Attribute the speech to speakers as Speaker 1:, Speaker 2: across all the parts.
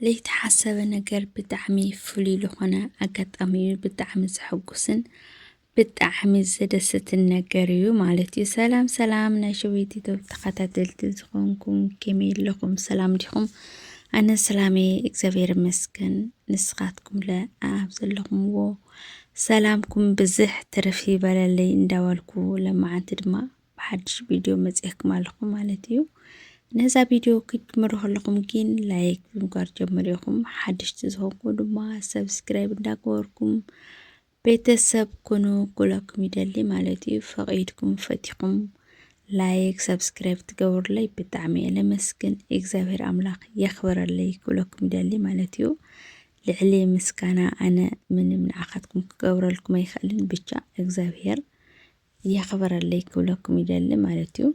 Speaker 1: ለይተሓሰበ ነገር ብጣዕሚ ፍሉይ ልኾነ ኣጋጣሚ እዩ ብጣዕሚ ዘሐጉስን ብጣዕሚ ዘደሰትን ነገር እዩ ማለት እዩ ሰላም ሰላም ናይ ሸዊት ቶብ ተኸታተልቲ ዝኾንኩም ከመይ ኣለኹም ሰላም ዲኹም ኣነ ሰላሜ እግዚኣብሔር ይመስገን ንስኻትኩም ለ ኣብ ዘለኹምዎ ሰላምኩም ብዝሕ ትርፍ ይበለለይ እንዳበልኩ ለመዓንቲ ድማ ብሓድሽ ቪድዮ መፅኤኩም ኣለኹ ማለት እዩ ነዛ ቪድዮ ክትጅምሩ ከለኹም ግን ላይክ ብምግባር ጀምር ኢኹም ሓድሽቲ ዝኾንኩ ድማ ሰብስክራይብ እንዳገበርኩም ቤተሰብ ኩኑ ኩለኩም ይደሊ ማለት እዩ ፈቒድኩም ፈቲኹም ላይክ ሰብስክራይብ ትገብሩለይ ብጣዕሚ እየ ለመስግን እግዚኣብሔር ኣምላኽ የኽብረለይ ክብለኩም ይደሊ ማለት እዩ ልዕሊ ምስጋና ኣነ ምንም ንዓኻትኩም ክገብረልኩም ኣይኽእልን ብቻ እግዚኣብሔር የኽብረለይ ክብለኩም ይደሊ ማለት እዩ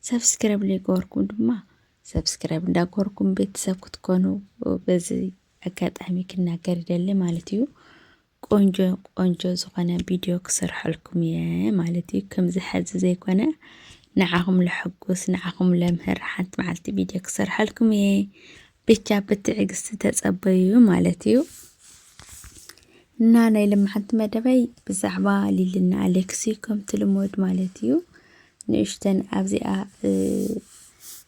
Speaker 1: ሰብስክራይብ ዘይገበርኩም ድማ ሰብስክራይብ እንዳገበርኩም ቤተሰብ ክትኮኑ በዚ ኣጋጣሚ ክናገር ይደሊ ማለት እዩ ቆንጆ ቆንጆ ዝኾነ ቪድዮ ክሰርሐልኩም እየ ማለት እዩ ከምዚ ሕዚ ዘይኮነ ንዓኹም ለሐጉስ ንዓኹም ለምህር ሓንቲ መዓልቲ ቪድዮ ክሰርሐልኩም እየ ብቻ ብትዕግስቲ ተጸበዩ ማለት እዩ እና ናይ ልምሓንቲ መደበይ ብዛዕባ ሊልና ኣሌክሲ ከምቲ ልሞድ ማለት እዩ ንእሽተን ኣብዚኣ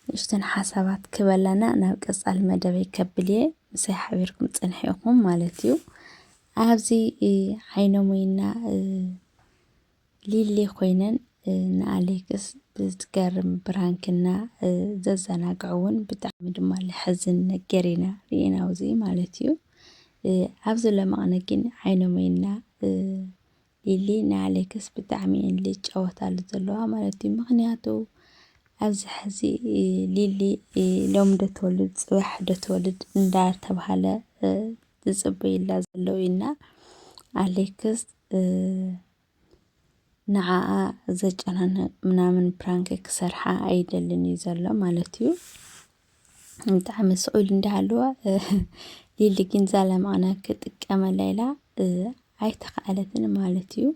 Speaker 1: ንእሽተን ሓሳባት ክበላና ናብ ቀጻሊ መደበይ ከብል እየ ምሳይ ሓቢርኩም ጽንሐ ኢኹም ማለት እዩ ኣብዚ ዓይኖም ወይና ሊሊ ኮይነን ን ኣሌክስ ብዝገርም ብራንክ እና ዘዘናግዕውን ብጣዕሚ ድማ ለሐዝን ነገር ኢና ሪኢና ውዚ ማለት እዩ ኣብዚ ለመቕነ ግን ዓይኖም ኢና ሊሊ ንኣሌክስ ብጣዕሚ እየን ልጫወታሉ ዘለዋ ማለት እዩ ምክንያቱ ኣብዚ ሕዚ ሊሊ ሎም ዶ ትወልድ ፅባሕ ዶ ትወልድ እንዳተባሃለ ዝፅበዩላ ዘለው ኢና ኣሌክስ ንዓኣ ዘጨናንቕ ምናምን ፕራንክ ክሰርሓ ኣይደልን እዩ ዘሎ ማለት እዩ። ብጣዕሚ ስቕ ኢሉ እንዳሃለወ ሊሊ ግን ዛላ ምቕና ክጥቀመላ ኢላ ኣይተኸኣለትን ማለት እዩ።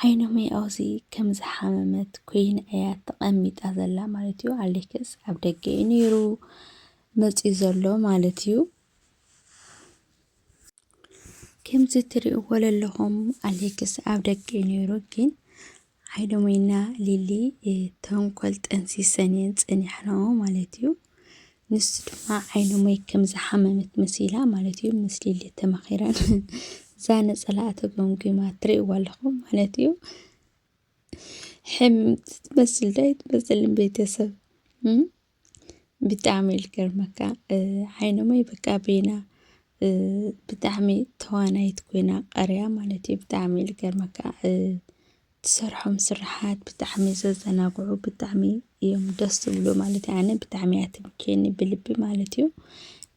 Speaker 1: ዓይኖም ኣብዚ ከም ዝሓመመት ኮይና እያ ተቐሚጣ ዘላ ማለት እዩ። ኣሌክስ ኣብ ደገ እዩ ነይሩ መፂኡ ዘሎ ማለት እዩ። ከምዚ ትሪእዎ ዘለኹም ኣሌክስ ኣብ ደገ እዩ ነይሩ ግን ሓይሎምና ሊሊ ተንኮል ጠንሲሰን እየን ፀኒሐንኦ ማለት እዩ። ንሱ ድማ ዓይኖመይ ከም ዝሓመመት መሲላ ማለት እዩ ምስ ሊሊ ተማኺረን እዛ ነፀላኣ ተጎምጒማ ትሪእዎ ኣለኹም ማለት እዩ። ሕም ትመስል ዶ ኣይትመስልን ቤተሰብ እም? ብጣዕሚ እዩ ዝገርመካ እ፣ ዓይኖመይ በቃ ቤና እ፣ ብጣዕሚ ተዋናይት ኮይና ቀርያ ማለት እዩ ብጣዕሚ እዩ ዝገርመካ እ፣ ትሰርሖም ስርሓት ብጣዕሚ ዘዘናግዑ ብጣዕሚ እዮም ደስ ዝብሉ ማለት ኣነ ብጣዕሚ እያ ትምቸየኒ ብልቢ ማለት እዩ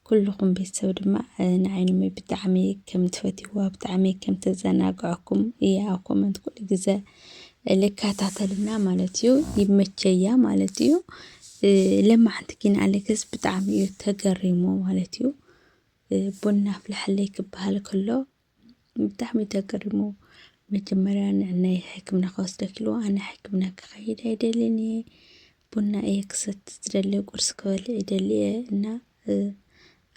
Speaker 1: ኩልኹም ቤተሰብ ድማ ንዓይንሚ ብጣዕሚ ከም ትፈትይዋ ብጣዕሚ ከም ተዘናግዐኩም እያ ኣብ ኮመንት ኩሉ ግዘ ልከታተልና ማለት እዩ ይመቸያ ማለት እዩ ለማዓንቲ ግን ኣሌክስ ብጣዕሚ እዩ ተገሪሙ ማለት እዩ ቡና ኣፍልሐለይ ክበሃል ከሎ ብጣዕሚ ተገሪሙ መጀመርያ ንዕናይ ሕክምና ክወስደኪ ኢልዎ ኣነ ሕክምና ክኸይድ ኣይደልን እየ ቡና እየ ክሰቲ ዝደሊ ቁርሲ ክበልዕ ይደሊ እየ እና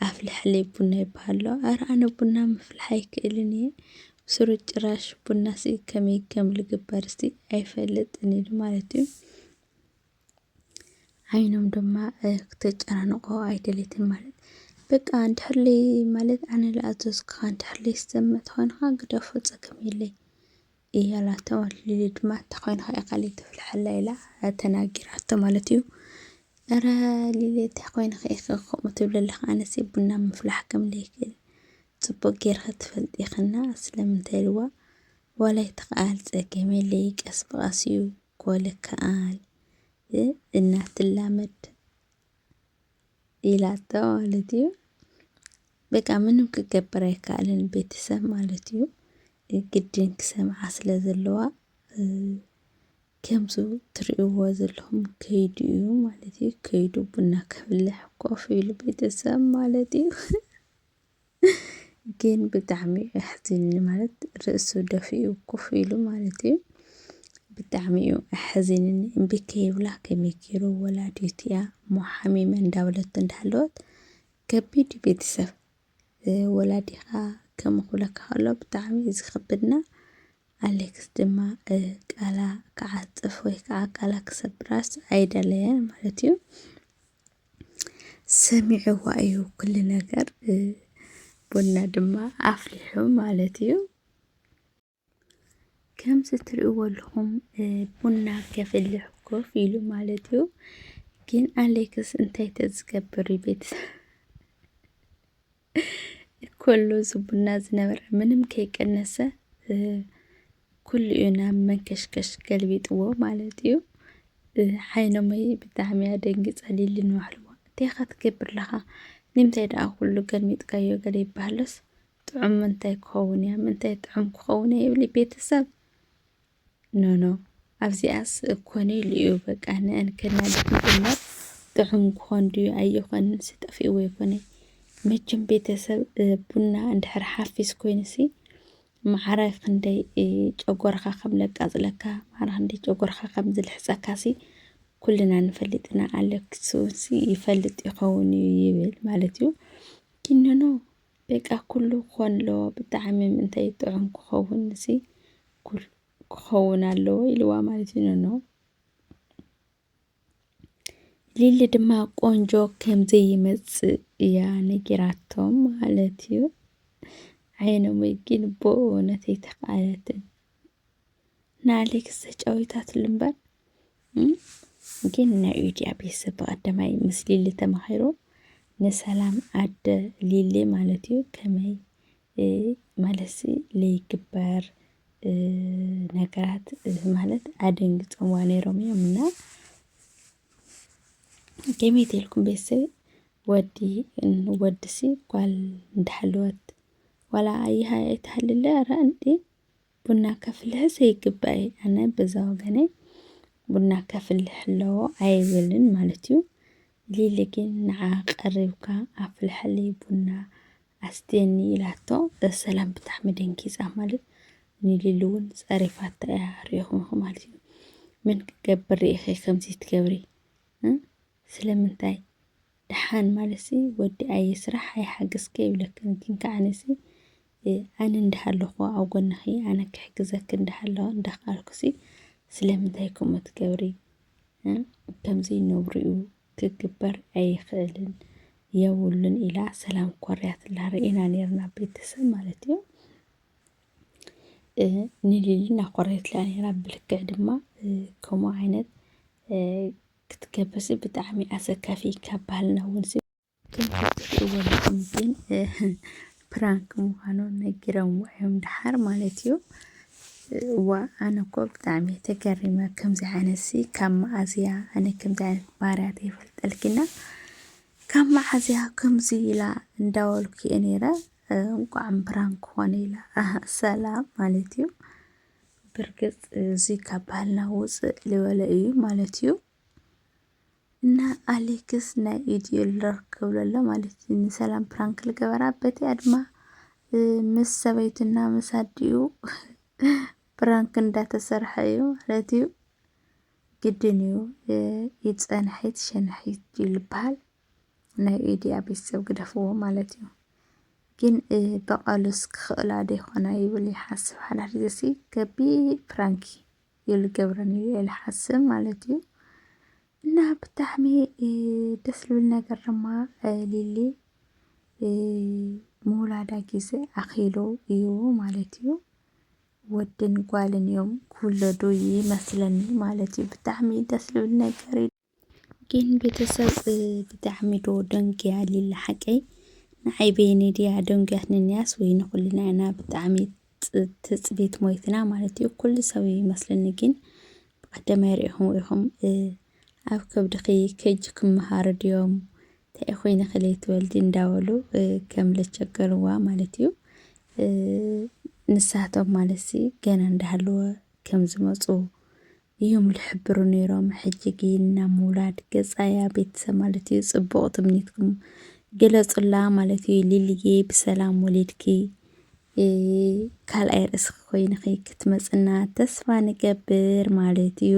Speaker 1: ኣፍልሐለይ ቡና ይበሃሎ ኣረ ኣነ ቡና ምፍልሓ ኣይክእልን እየ ብስሩ ጭራሽ ቡና ሲ ከመይ ከም ዝግበር ሲ ኣይፈልጥን ኢሉ ማለት እዩ። ዓይኖም ድማ ክተጨናንቆ ኣይደለይትን ማለት በቃ እንድሕር ለይ ማለት ኣነ ዝኣዘዝኩኻ እንድሕር ለይ ዝሰምዕ ተኾይንኻ ግደፎ ፀገም የለይ እያ ላቶ ማለት ሊሊ ድማ ተኾይንኻ ኢኻ ለይ ተፍልሐላ ኢላ ተናጊራቶ ማለት እዩ እረ ሊሊ ተኾይንኻ ኢኺ ከምኡ ትብለለኻ ኣነሲ ቡና ምፍላሕ ከም ለይክእል ፅቡቅ ጌርኺ ትፈልጢ ኢኽና ስለምንታይ ኢልዋ ዋላ ይተኸኣል ፀገም የለይ ቀስ ብቐስ እዩ ኮልከኣል ብ እና ትላመድ ኢላቶ ማለት እዩ። በቃ ምንም ክገብር ኣይከኣልን ቤተሰብ ማለት እዩ። ግድን ክሰምዓ ስለ ዘለዋ ከምዚ ትርእይዎ ዘለኹም ከይዱ እዩ ማለት እዩ። ከይዱ ቡና ከፍልሕ ኮፍ ኢሉ ቤተሰብ ማለት እዩ። ግን ብጣዕሚ እዩ ኣሕዚኒ ማለት ርእሱ ደፊኡ ኮፍ ኢሉ ማለት እዩ ብጣዕሚ እዩ ኣሕዚንኒ እምቢ ከይብላ ከመይ ገይሩ ወላዲት እያ እሞ ሓሚመ እንዳበለት እንዳሃለወት ከቢድ እዩ ቤተሰብ ወላዲኻ ከምኡ ክብለካ ከሎ ብጣዕሚ እዩ ዝኸብድና ኣሌክስ ድማ ቃላ ክዓፅፍ ወይ ከዓ ቃላ ክሰብራስ ኣይደለየን ማለት እዩ ሰሚዕዋ እዩ ኩሉ ነገር ቡና ድማ ኣፍሊሑ ማለት እዩ ከምዚ ትርእይዎ ኣለኹም ቡና ከፍልሕ ኮፍ ኢሉ ማለት እዩ ግን ኣሌክስ እንታይ ተዝገብር ቤተሰብ ኮሎ ዝቡና ዝነበረ ምንም ከይቀነሰ ኩሉ እዩ ናብ መንከሽከሽ ገልቢጥዎ ማለት እዩ ሓይኖመይ ብጣዕሚ እያ ደንጊፀሊ ልንባሕልዎ እንታይኻ ትገብር ኣለኻ ንምንታይ ደኣ ኩሉ ገልሚጥካዮ ገለ ይበሃለስ ጥዑም ምንታይ ክኸውን እያ ምንታይ ጥዑም ክኸውን እያ ይብሊ ቤተሰብ ኖኖ ኣብዚኣስ ኮኔል እዩ በቃ ንእን ከናድድ ምጅማር ጥዑም ክኾን ድዩ ኣይኾንን ስጠፊእዎ ይኮነ መቸም ቤተሰብ ቡና እንድሕር ሓፊስ ኮይንሲ መዓራይ ክንደይ ጨጎርካ ከም ለቃፅለካ መዓራ ክንደይ ጨጎርካ ከም ዝልሕፀካሲ ኩልና ንፈልጥ ኢና ኣለኪ ሰውሲ ይፈልጥ ይኸውን እዩ ይብል ማለት እዩ ግን ኖኖ በቃ ኩሉ ክኾን ኣለዎ ብጣዕሚ ምንታይ ጥዑም ክኸውን ሲ ኩሉ ክኸውን ኣለዎ ኢልዋ ማለት እዩ ኖኖ ሊሊ ድማ ቆንጆ ከም ዘይመጽእ እያ ነጊራቶም ማለት እዩ። ዓይኖም ግን ብእውነት ኣይተኽኣለትን። ንኣሌክስ ተጫዊታትሉ እምበር ግን ናይ ዩድያ ቤተሰብ ብቀዳማይ ምስ ሊሊ ተማሂሩ ንሰላም ኣደ ሊሊ ማለት እዩ ከመይ ማለት ለይግበር ነገራት ማለት ኣደንግፆምዋ ነይሮም እዮም እና ከመይ ተልኩም ቤተሰብ ወዲ ወድሲ ጓል እንዳሓለወት ዋላ ኣይሃ ኣይትሃልለ ኧረ እንዴ ቡና ከፍልሕስ ይግባእ እዩ። ኣነ በዛ ወገነይ ቡና ከፍልሕ ኣለዎ ኣይብልን ማለት እዩ። ሊሊ ግን ንዓ ቀሪብካ ኣፍልሐለይ ቡና ኣስትየኒ ኢላቶ ሰላም ብጣዕሚ ደንጊፃ ማለት ንሊሊ እውን ፀሪፋታ እያ ሪኢኹም ማለት እዩ። ምን ክትገብሪ ኢኺ ከምዚ ትገብሪ ስለምንታይ ደሓን ማለትሲ ወዲ ኣየ ስራሕ ኣይሓግዝኪ ይብለክን ግን ከኣ ኣነሲ ኣነ እንዳሃለኹ ኣብ ጎንኺ ኣነ ክሕግዘኪ እንዳሃለኹ እንዳኻኣልኩሲ ስለምንታይ ከምኡ ትገብሪ ከምዚ ነውሪኡ ክግበር ኣይኽእልን የብሉን ኢላ ሰላም ኮርያትላ ርኢና ነርና ቤተሰብ ማለት እዩ ንሊሊ እናኾረየትላ ነራ ብልክዕ ድማ ከምኡ ዓይነት ክትገብርሲ ብጣዕሚ ኣሰካፊ ካብ ባህልና ውንሲ ከምትትወልኩም ግን ፕራንክ ምዃኑ ነጊረምዎ እዮም ድሓር ማለት እዩ እዋ ኣነ እኮ ብጣዕሚ ተገሪመ ከምዚ ዓይነት ሲ ካብ መዓዝ እያ ኣነ ከምዚ ዓይነት ባህርያት የፈልጠልኪና ካብ መዓዝ እያ ከምዚ ኢላ እንዳበልኩ እየ ነይረ እንቋዕ ፕራንክ ኾነ ኢላ ሰላም ማለት እዩ ብርግጽ እዚ ካብ ባህልና ውጽእ ልበለ እዩ ማለት እዩ እና ኣሌክስ ናይ ኢድዩ ልረክ ክብለሎ ማለት እዩ ንሰላም ፕራንክ ልገበራ በቲ ኣድማ ምስ ሰበይቱና ምስ ኣዲኡ ፕራንክ እንዳተሰርሐ እዩ ማለት እዩ። ግድን እዩ ይጸንሐት ሸንሐት እዩ ልበሃል። ናይ ኤድያ ቤተሰብ ግደፍዎ ማለት እዩ። ግን በቐሉስ ክኽእላ ዶ ይኾና ይብል ይሓስብ ሓዳር ዘሲ ከቢ ፕራንኪ ይብል ገብረን እዩ ኢለ ሓስብ ማለት እዩ። እና ብጣዕሚ ደስ ዝብል ነገር ድማ ሊሊ ምውላዳ ግዜ ኣኺሉ እዩ ማለት እዩ። ወድን ጓልን እዮም ክውለዱ ይመስለኒ ማለት እዩ። ብጣዕሚ ደስ ዝብል ነገር እዩ። ግን ቤተሰብ ብጣዕሚ ዶ ደንጊያ ሊሊ ሓቀይ ንዓይ በይነይ ድያ ደንጉያትኒ እንያስ ወይ ንኹልና ኢና ብጣዕሚ ፅ- ትፅቢት ሞይትና ማለት እዩ ኩሉ ሰብ እዩ ይመስለኒ ግን ብቀዳማይ ርኢኹም ኢኹም እ፣ ኣብ ከብድኺ ከጅ ክምሃሩ ድዮም እንታይ ኮይንኺ ለይትወልዲ እንዳበሉ እ፣ ከም ለቸገርዋ ማለት እዩ እ፣ ንሳቶም ማለትሲ ገና እንዳሃለወ ከም ዝመፁ እዮም ልሕብሩ ነይሮም ሕጂ ግን ናብ ምውላድ ገጻ እያ ቤተሰብ ማለት እዩ ጽቡቕ ትምኒትኩም ግለጹላ ማለት እዩ ሊልዬ ብሰላም ወሊድኪ ካልኣይ ርእስኺ ኮይንኺ ክትመጽና ተስፋ ንገብር ማለት እዩ።